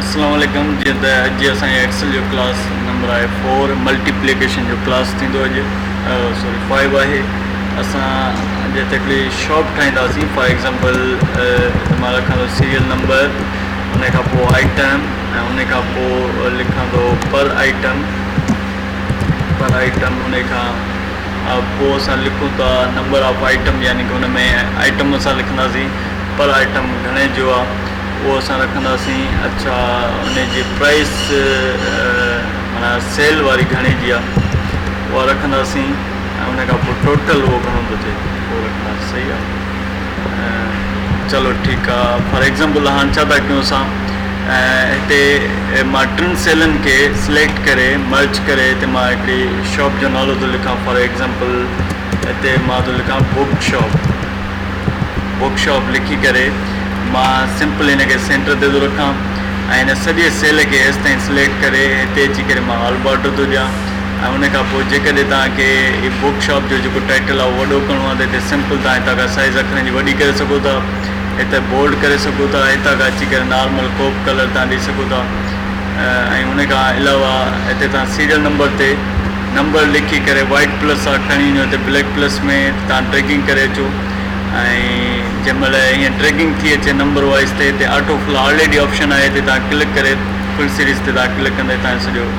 السلام عليڪم جيئن ته اڄ اسان جي ايڪسل جو ڪلاس نمبر آهي فور ملٽيپليڪيشن جو ڪلاس ٿيندو اڄ سوري فائيو آهي اسان اڄ هڪڙي شاپ ٺاهينداسين فار ايگزامپل مان رکان ٿو سيريل نمبر ان کان پوء آئٽم ۽ ان کان پوء لکندو پر آئٽم پر آئٽم ان کان پوء اسان لکون ٿا نمبر آف آئٽم يعني ڪه ان ۾ آئٽم اسان لکنداسين پر آئٽم گهڻي جو آهي اهو اسان رکنداسين اڇا ان جي پرائس مانا سيل واري گهڻي جي آهي اها رکنداسين ۽ ان کان پوء ٽوٽل اهو گهڻو ٿو ٿئي اهو رکنداسين صحيح آهي چلو ٺيڪ آ فار ايگزامپل هاڻ ڇا ٿا ڪيون اسان هتي مان ٽن سيلن کي سليڪٽ ڪري مرچ ڪري هتي مان هڪڙي شاپ جو نالو ٿو لکان فار ايگزامپل هتي مان ٿو لکان بوڪ شاپ بوڪ شاپ لکي ڪري مان سمپل هن کي سينٽر تي ٿو رکان ۽ هن سڄي سيل کي هيستائين سليڪٽ ڪري هتي اچي ڪري مان آل بارڊر ٿو ڏيان ۽ ان کان پوء جيڪڏهن توهان کي هي بوڪ شاپ جو جيڪو ٽائيٽل آهي اهو وڏو ڪرڻو آهي ته هتي سمپل توهان هتان کان سائيز اکرن جي وڏي ڪري سگهو ٿا هتي بولڊ ڪري سگهو ٿا هتان کان اچي ڪري نارمل ڪو به ڪلر توهان ڏئي سگهو ٿا ۽ ان کان علاوه هتي توهان سيريل نمبر تي نمبر لکي ڪري وائٽ پلس سان کڻي وڃو هتي بليڪ پلس ۾ توهان ڊريگنگ ڪري اچو ۽ جنهن مهل ائين ڊريگنگ ٿي اچي نمبر وائز تي هتي آٽو فل آلريڊي آپشن آهي هتي توهان ڪلڪ ڪري فل سيريز تي توهان ڪلڪ ڪندي توهان سڄو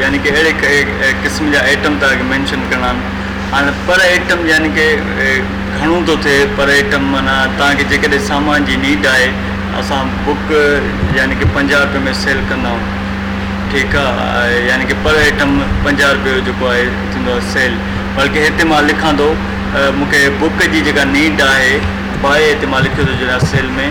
يعني ڪي اهڙي قسم جا ايٽم ٿا مينشن ڪرڻا آهن هاڻي پر ايٽم يعني ڪي گهڻو ٿو ٿئي پر ايٽم معنيٰ توهان کي جيڪڏهن سامان جي نيڊ آهي اسان بڪ يعني ڪي پنجاهه روپئي ۾ سيل ڪندا آهيون ٺيڪ آهي يعني ڪي پر ايٽم پنجاهه روپئي جو جيڪو آهي ٿيندو آهي سيل بلڪه هتي مان لکان ٿو مون کي بڪ جي جيڪا نيڊ آهي باهه هتي مان لکيو ٿو جڏهن سيل ۾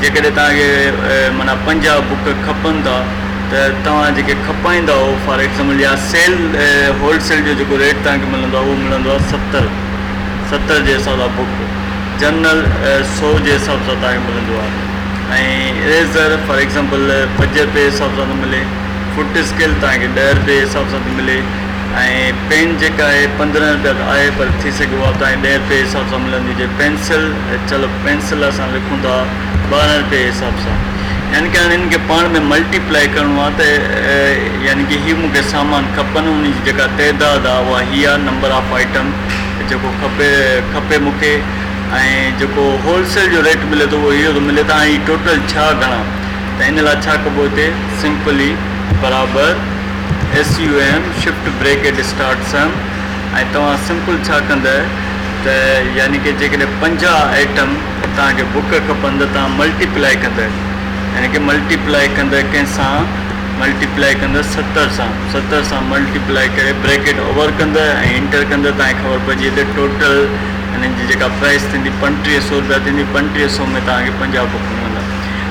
جيڪڏهن توهان کي معنيٰ پنجاهه بڪ کپن ٿا ته توهان جيڪي کپائيندا آهو فار ايگزامپل يا سيل هولڊ سيل جو جيڪو ريٽ توهان کي ملندو آهي اهو ملندو آهي ستر ستر جي حساب سان بڪ جنرل سو جي حساب سان توهان کي ملندو آهي ۽ ريزر فار ايگزامپل پنج رپئي جي حساب سان ٿو ملي فوٽ اسڪيل توهان کي ڏهه رپئي جي حساب سان ٿي ملي ۽ پين جيڪا آهي پندرهن رپيا ته آهي پر ٿي سگهي اها توهان کي ڏهه رپئي جي حساب سان ملندي جي پينسل ته چلو پينسل سان لکون ٿا ٻارهن رپيي حساب سان يعني ڪي هاڻي هنن کي پاڻ ۾ ملٽي پلائي ڪرڻو آ ته يعني ڪي هي مون کي سامان کپن انهن جي جيڪا تعداد آ اها هي آ نمبر آف آئٽم جيڪو کپي کپي مون کي ۽ جيڪو هول سيل جو ريٽ ملي ٿو اهو اهو ته ملي ٿو هاڻي هي ٽوٽل ڇا گڻان ته ان لاء ڇا ڪبو هتي سمپلي برابر SUM shift bracket start sum ۽ توهان سمپل ڇا ڪنده ته يعني ڪه جيڪڏهن پنجاهه ائٽم توهان کي بڪ کپن ته توهان ملٽي پلائي ڪنده يعني ڪه ملٽي پلائي ڪنده ڪنهن سان ملٽي پلائي ڪنده ستر سان ستر سان ملٽي پلائي ڪري بريڪيٽ اوور ڪنده ۽ انٽر ڪنده توهان کي خبر پئجي ته ٽوٽل انهن جي جيڪا پرائس ٿيندي پنٽيهه سو روپيا ٿيندي پنٽيهه سو ۾ توهان کي پنجاهه بڪ ملندا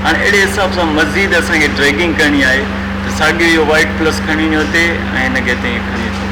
هاڻي اهڙي حساب سان مزيد اسان کي ڊريگنگ ڪرڻي آهي ته ساڳيو اهو وائٽ پلس کڻي وڃو هتي ۽ هن کي هتي ائين کڻي اچو.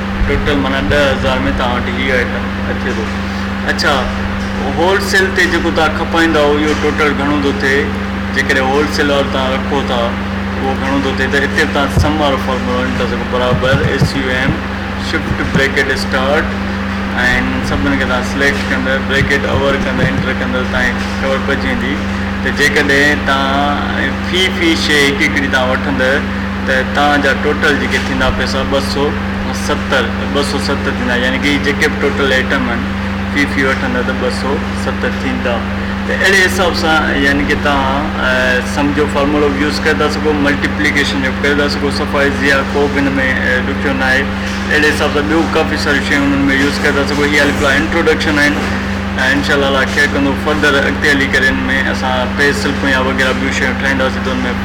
ٽوٽل معنيٰ ڏهه هزار ۾ توهان وٽ هي آئٽم اچي ٿو اڇا هول سيل تي جيڪو توهان کپائيندا اهو اهو ٽوٽل گهڻو ٿو ٿئي جيڪڏهن هول سيل وارو توهان رکو ٿا اهو گهڻو ٿو ٿئي ته هتي به توهان سم وارو فارمولو آڻي ٿا سگهو برابر S U M shift bracket start ۽ سڀني کي توهان سليڪٽ ڪندو بريڪيٽ اوور ڪندو انٽر ڪندو توهان کي خبر پئجي ويندي ته جيڪڏهن توهان في في شيء هڪ هڪڙي توهان وٺندو ته تان جا ٽوٽل جيڪي ٿيندا پئسا ٻه سؤ ستر ٻه سؤ ست ٿيندا يعني ڪي جيڪي به ٽوٽل ايٽم آهن في في وٺندا ته ٻه سؤ ست ٿيندا ته اهڙي حساب سان يعني ڪي تان سم جو فارمولو به يوز ڪري ٿا سگهو ملٽيپليڪيشن جو به ڪري ٿا سگهو صفا ايزي آهي ڪو به هن ۾ ڏکيو نه آهي اهڙي حساب سان ٻيو ڪافي ساريون شيون انهن ۾ يوز ڪري ٿا سگهو هي هلي پلا انٽروڊڪشن آهن انشاء الله ڪيئر ڪندو فردر اڳتي هلي ڪري ان ۾ اسان پيس سلپون يا وغيره ٻيون شيون ٺاهينداسين ته ان ۾